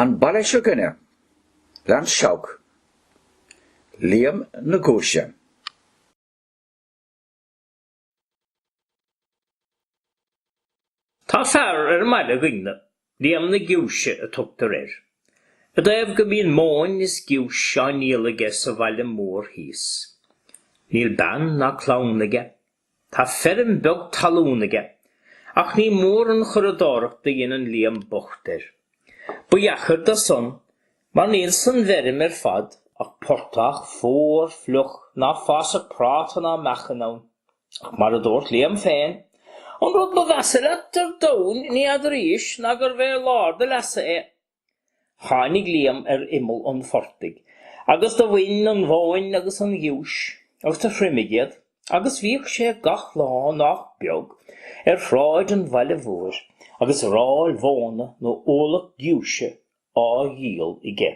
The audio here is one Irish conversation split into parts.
An baile seo 'gainne, leis an Seabhac, Liam na giúise. Tá fear ar an mbaile 'gainne, Liam na giúise a tugtar air. I dtaobh go mbíonn móin is giúis á ndíol aige sa bhaile mór thíos. Níl bean ná clann aige Tá feirm beag talún aige ach ní mór an churadóireacht a dhéanann Liam bocht air. Ba dheacair dó san mar níl san bhfeirm ar fad ach portach, fuar, fliuch, ná fásfadh práta ná meacan ann. Ach mar a dúirt Liam féin, an rud ba mheasa leat ar domhan ní fheadaraís ná gurbh é lár do leasa é. Tháinig Liam ar imeall an phortaigh agus do bhain an mhóin agus an ghiúis agus do thriomaigh iad agus bhíodh sé gach lá nách beag ar shráid an bhaile mhóir agus ráil mhóna nó ualach giúise á dhíol aige.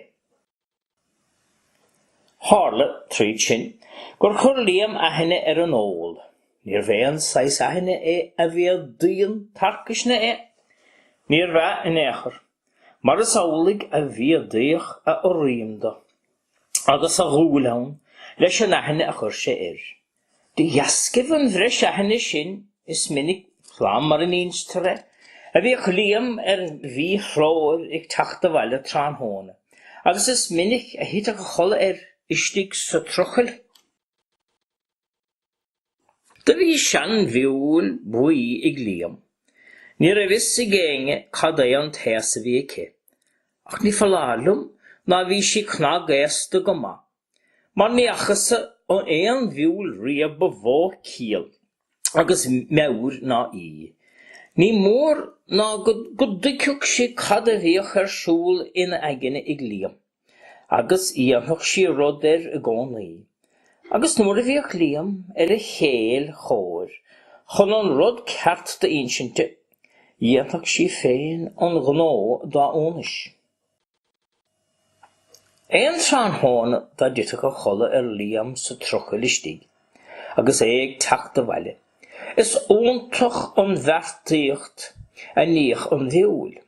Tharla, tríd sin, gur chuir Liam aithne ar an ól. Níorbh é an saghas aithne é a mhéadaíonn tarcaisne é. Níorbh ea, in aon chor. Mar is amhlaidh a mhéadaíodh a urraim dó, agus a dhúil ann, leis an aithne a chuir sé air. De dheascaibh an bhreis aithne sin is minic slán mar a n-instear é, a bhíodh Liam ar mhí-threoir ag teacht abhaile tráthnóna agus is minic a thiteadh a chodladh air istigh sa trucail. Do bhí sean-mhiúil bhuí ag Liam. Ní raibh fhios ag éinne cad é an t-aos a bhí aici. Ach ní foláir liom ná bhí sí cnag-aosta go maith. Mar ní fhacasa aon mhiúil riamh ba mhó ciall agus meabhair ná í. Ní mór ná go dtuigfeadh sí cad a bhíodh ar siúl ina aigne ag Liam, agus dhéanfadh sí rud air i gcónaí. Agus nuair ná bíodh Liam ar a chéill chóir chun an rud ceart d'insint di, dhéanfadh sí féin an gnó dá iúnais. Aon tráthnóna dá dtitfeadh a chodladh ar Liam sa trucail istigh agus é ag teacht abhaile, is iontach an bheartaíocht a níodh an mhiúil.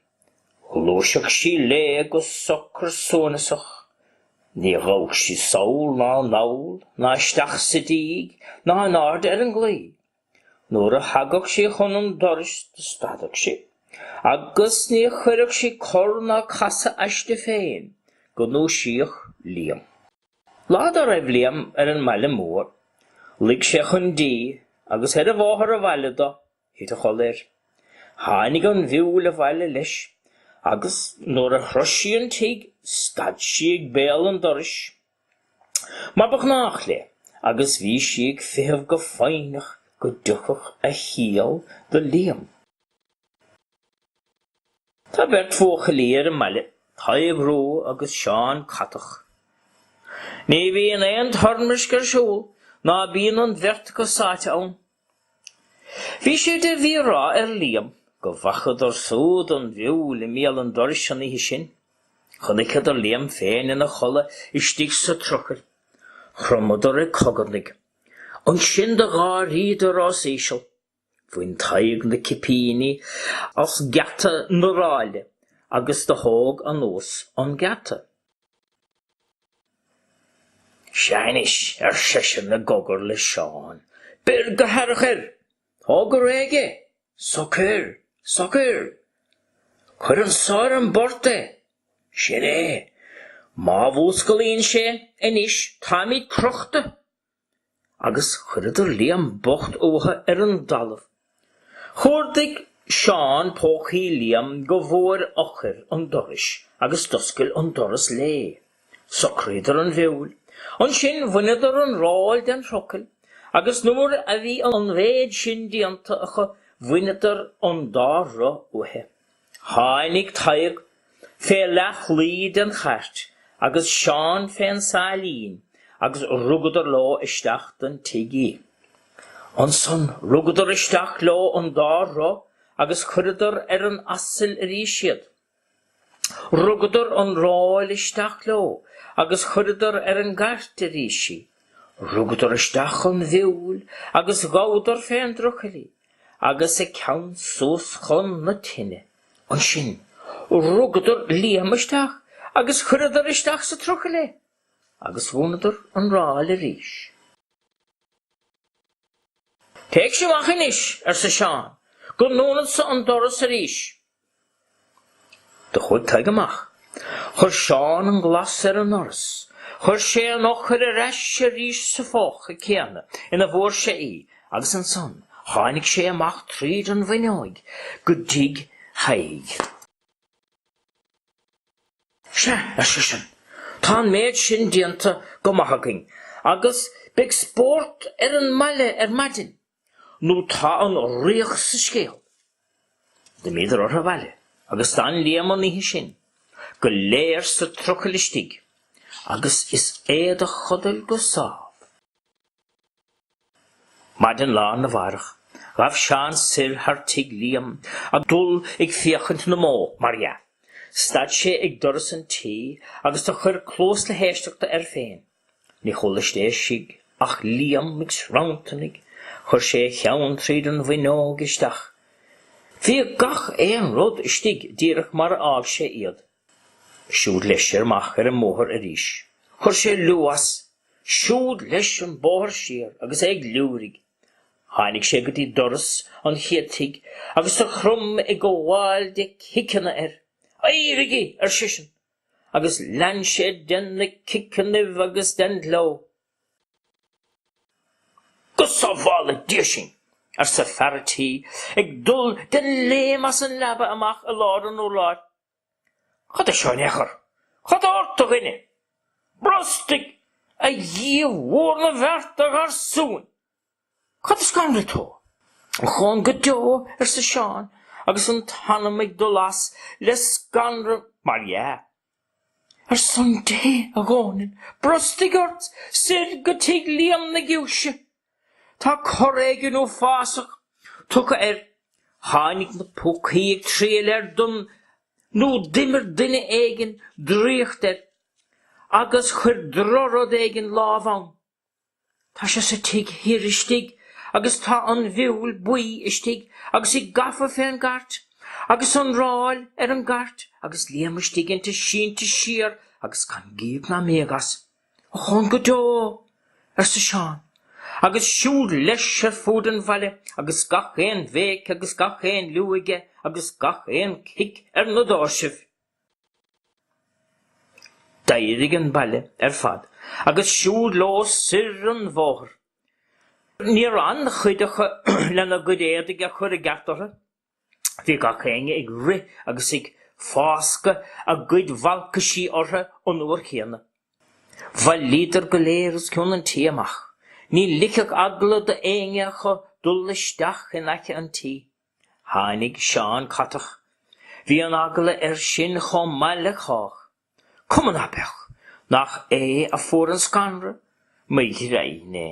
Ghluaiseadh sí léi go socair suaineasach. Ní ghabhadh sí sall ná anall ná isteach sa díg ná in airde ar an gclaí. Nuair a thagadh sí chun an dorais do stadadh sí agus ní chuireadh sí cor ná casadh aisti féin go ndúisíodh Liam. Lá dá raibh Liam ar an mbaile mór luigh sé chun dí agus ar a bhóthar abhaile dó, thit a chodladh air. Tháinig an mhiúil abhaile leis agus nuair a shrois sí an tigh stad sí ag béal an dorais. mar ba ghnách léi agus bhí sí ag feitheamh go foighneach go dtiocfadh a chiall do Liam. Tá beirt bhuachaillí ar an mbaile, Tadhg Rua agus Seán Catach. Ní bhíonn aon toirmisc ar siúl ná bíonn an bheirt acu sáite ann. Bhí sé de mhí-rath ar Liam go bhfacadar súd an mhiúil i mbéal an dorais an oíche sin. Chonaiceadar Liam féin ina chodladh istigh sa trucail. Chromadar ag cogarnaigh. Ansin do gháiríodar os íseal. Bhain Tadhg na cipíní as geata na ráile agus do thóg anuas an geata. Sea anois, ar seisean i gcogar le Seán. Beir go haireach air! Tóg go réidh é! Socair! Socair! Cuir anso ar an bport é! Sin é! Má mhúsclaíonn sé anois táimid crochta! agus chuireadar Liam bocht uathu ar an dtalamh. Chuardaigh Seán pócaí Liam go bhfuair eochair an dorais agus d'oscail an doras léi. Socraíodar an mhiúil. Ansin bhaineadar an ráil den thrucail agus nuair a bhí an mhéid sin déanta acu bhaineadar an dá roth uaithi. Tháinig Tadhg fé leathlaí den chairt agus Seán fén sáilín agus rugadar leo isteach don tig í. Ansan rugadar isteach leo an dá roth agus chuireadar ar an aiseal arís iad. Rugadar an ráil isteach leo agus chuireadar ar an gcairt arís í. Rugadar isteach an mhiúil agus ghabhadar fén dtrucail í. agus a ceann suas chun na tine. Ansin rugadar Liam isteach agus chuireadar isteach sa trucail é, agus dhúnadar an ráil arís. Téigh-se amach anois, arsa Seán, go ndúnad-sa an doras arís. Do chuaidh Tadhg amach. Chuir Seán an glas ar an ndoras. Chuir sé an eochair ar ais arís sa phóca céanna ina bhfuair sé í agus ansan tháinig sé amach tríd an bhfuinneoig go dtí Tadhg. Sea, ar seisean, tá an méid sin déanta go maith againn agus beidh spórt ar an mbaile ar maidin. nó tá an riach sa scéal. D'imíodar ortha abhaile agus d'fhan Liam an oíche sin go léir sa trucaill istigh agus is é do chodail go sámh. Maidin lá arna mháireach ghabh Seán soir thar tigh Liam ag dul ag féachaint na mbó, mar dhea. Stad sé ag doras an tí agus do chuir cluas le héisteachta air féin. Ní chuala sé istigh ach Liam ag sranntarnaigh. Chuir sé a cheann tríd an bhfuinneoig isteach. Bhí gach aon rud istigh díreach mar a fhág sé iad. Siúd leis siar amach ar an mbóthar arís. Chuir sé liú as. Siúd leis an bóthar siar agus é ag liúirigh. Tháinig sé go dtí doras an chéad tigh agus do chrom ag gabháil de chiceanna air. Éirigí! ar seisean. agus lean sé de na ciceanna agus den ghleo. Go sábhála Dia sinn! arsa fear an tí, ag dul de léim as an leaba amach i lár an urláir. Cad é seo in aon chor? Cad tá ort, a dhuine? Brostaigh, a Dhia mhór na bhfeart, a gharsúin! Cad a scanraigh tú? Ochón go deo, arsa Seán agus an t-anam ag dul as le scanradh, mar dhea! Ar son Dé, a Dhónaill, brostaigh ort! Soir go tigh Liam na Giúise! Tá cor éigin uafásach tugtha air. Tháinig na púcaí ag triall air don nó d'imir duine éigin draíocht air agus chuir drochrud éigin lámh ann. Tá sé sa tigh thoir istigh agus tá an mhiúil buí istigh agus í gafa fé an gcairt agus an ráil ar an gcairt agus Liam istigh inti sínte siar agus gan gíog ná míog as. Ochón go deo! arsa Seán, agus siúd leis ar fuaid an bhaile agus gach aon bhéic agus gach aon liú aige agus gach aon chic ar na dóirsibh. D'éirigh an baile ar fad agus siúd leo soir an bóthar. Níor fhan cuid acu lena gcuid éadaigh a chur i gceart orthu. Bhí gach éinne ag rith agus ag fáscadh a gcuid bhalcaisí orthu an uair chéanna. Bhailíodar go léir os cionn an tí amach. Ní ligfeadh eagla do éinne acu dul isteach in aice an tí. Tháinig Seán Catach. Bhí an-eagla air sin chomh maith le cách. Cuma ná beadh? Nach é a fuair an scanradh, má b'fhíor dó féin é?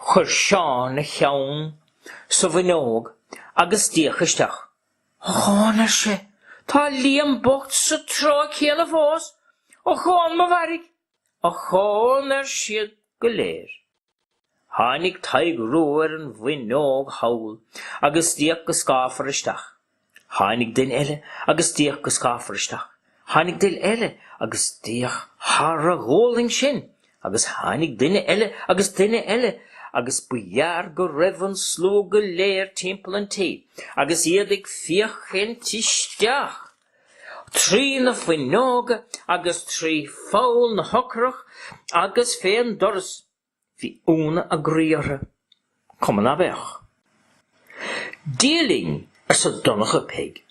Chuir Seán a cheann sa bhfuinneog agus d'fhéach isteach. Ochón, ar sé. Tá Liam bocht sa treo céanna fós. Ochón mo mhairg! Ochón! ar siad go léir. Tháinig Tadhg Rua ar an bhfuinneoig thall agus d'fhéach go scáfar isteach. Tháinig duine eile agus d'fhéach go scáfar isteach. Tháinig duine eile agus d'fhéach thar a ghualainn sin agus tháinig duine eile agus duine eile agus ba ghearr go raibh an slua go léir timpeall an tí agus iad ag féachaint isteach trí na fuinneoga agus trí pholl na heochrach agus fén doras. Bhí ionadh a gcroí orthu. Cuma ná beadh? Dia linn, arsa Donnchadh Pheig.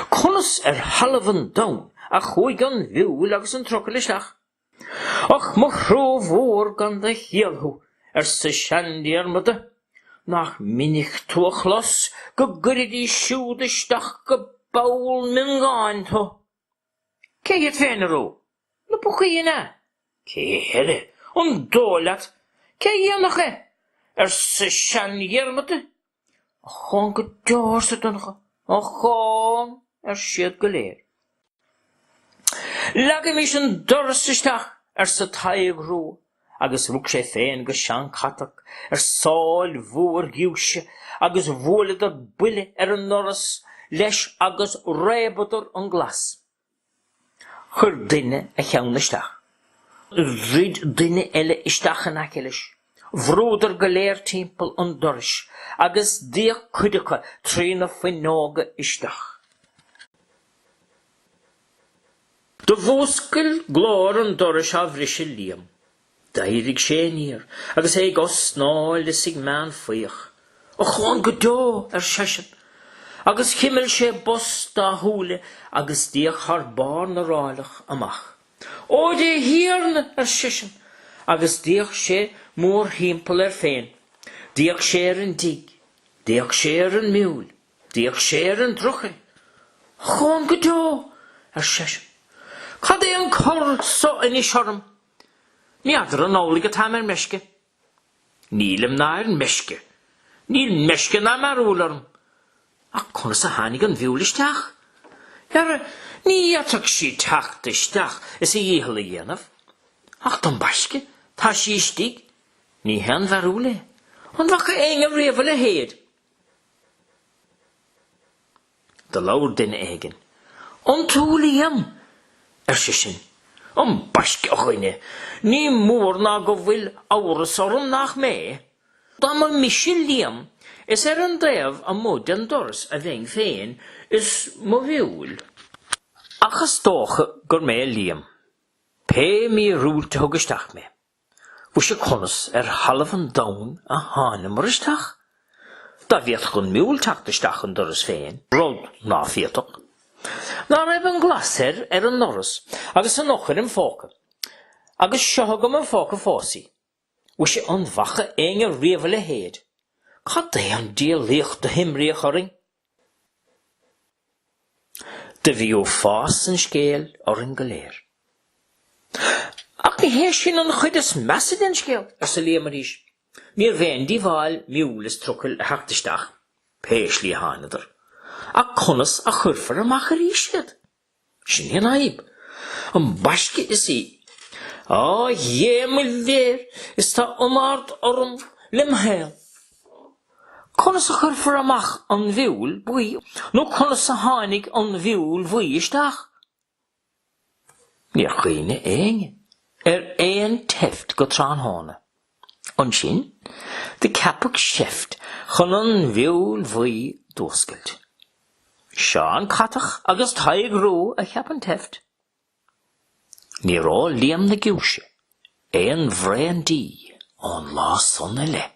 Conas ar thalamh an domhain a chuaigh an mhiúil agus an trucail isteach? Och, mo thrua mhór gan do chiall thú, arsa seanDiarmaid. Nach minic tú á chlos go gcuirfidís siúd isteach i bpoll miongáin tú? Cé hiad féin, arú? Na púcaí, an ea? Cé heile? An dóigh leat cé a dhéanfadh é? arsa seanDhiarmaid. Ochón go deo, arsa Donnchadh. Ochón! ar siad go léir. Leagaimís an doras isteach, arsa Tadhg Rua. agus rug sé féin agus Seán Catach ar sail mhór ghiúise agus bhuaileadar buille ar an ndoras leis agus réabadar an glas. Chuir duine a cheann isteach. Dhruid duine eile isteach in aice leis. Bhrúdar go léir timpeall an dorais agus d'fhéach cuid acu trí na fuinneoga isteach. Do mhúscail glór an dorais á bhriseadh Liam. D'éirigh sé aniar agus é ag osnaíl is ag méanfaíoch. Ochón go deo! ar seisean, agus chimil sé bos dá shúile agus d'fhéach thar barr na rálach amach. Ó dhe, a Thiarna! ar seisean, agus d'fhéach sé mórthimpeall air féin. D'fhéach sé ar an dtigh. D'fhéach sé ar an miúil. D'fhéach sé ar an dtrucail. Ochón go deo! ar seisean. Cad é an cor so anois orm? Ní fheadar an amhlaidh atáim ar meisce? Nílim ná ar meisce. Níl meisce ná mearbhall orm. Ach conas a tháinig an mhiúil isteach? Dhera, ní fhéadfadh sí teacht isteach is a dhícheall a dhéanamh. Ach ambaisce, tá sí istigh. Ní haon mhearbhall é. An bhfaca éinne riamh a leithéid? Do labhair duine éigin. An tú Liam? ar seisean. Ambaisce, a dhuine, ní mór ná go bhfuil amhras orm nach mé. Dá mba mise Liam, is ar an dtaobh amuigh den doras a bheinn féin is mo mhiúil. Ach is dócha gur mé Liam, pé míorúilt a thug isteach mé. Mhuise conas ar thalamh an domhain a tháineamar isteach? Dá bhféadfadh an miúil teacht isteach an doras féin, rud ná féadfadh. Ná raibh an glas air ar an ndoras agus an eochair im phóca. Agus seo agam im phóca fós í. Mhuise an bhfaca éinne riamh a leithéid? Cad é an diabhlaíocht do himríodh orainn? Do bhí uafás an scéil orainn go léir. Ach ní hé sin an chuid is measa den scéal, arsa Liam arís. Níorbh aon díobháil miúil is trucail a theacht isteach, pé slí a thángadar, ach conas a chuirfear amach arís iad? Sin í an fhadhb. Ambaiste is í. Á, dhé mo léir, is tá iomard orm lem shaol. Conas a chuirfear amach an mhiúil bhuí nó conas a tháinig an mhiúil bhuí isteach? Níor chuimhnigh éinne ar aon tseift go tráthnóna. Ansin, do ceapadh seift chun an mhiúil bhuí d'fhuascailt. Seán Catach agus Tadhg Ruadh a cheap an tseift. Níor ól Liam na Giúise aon bhraon dí ón lá san i leith.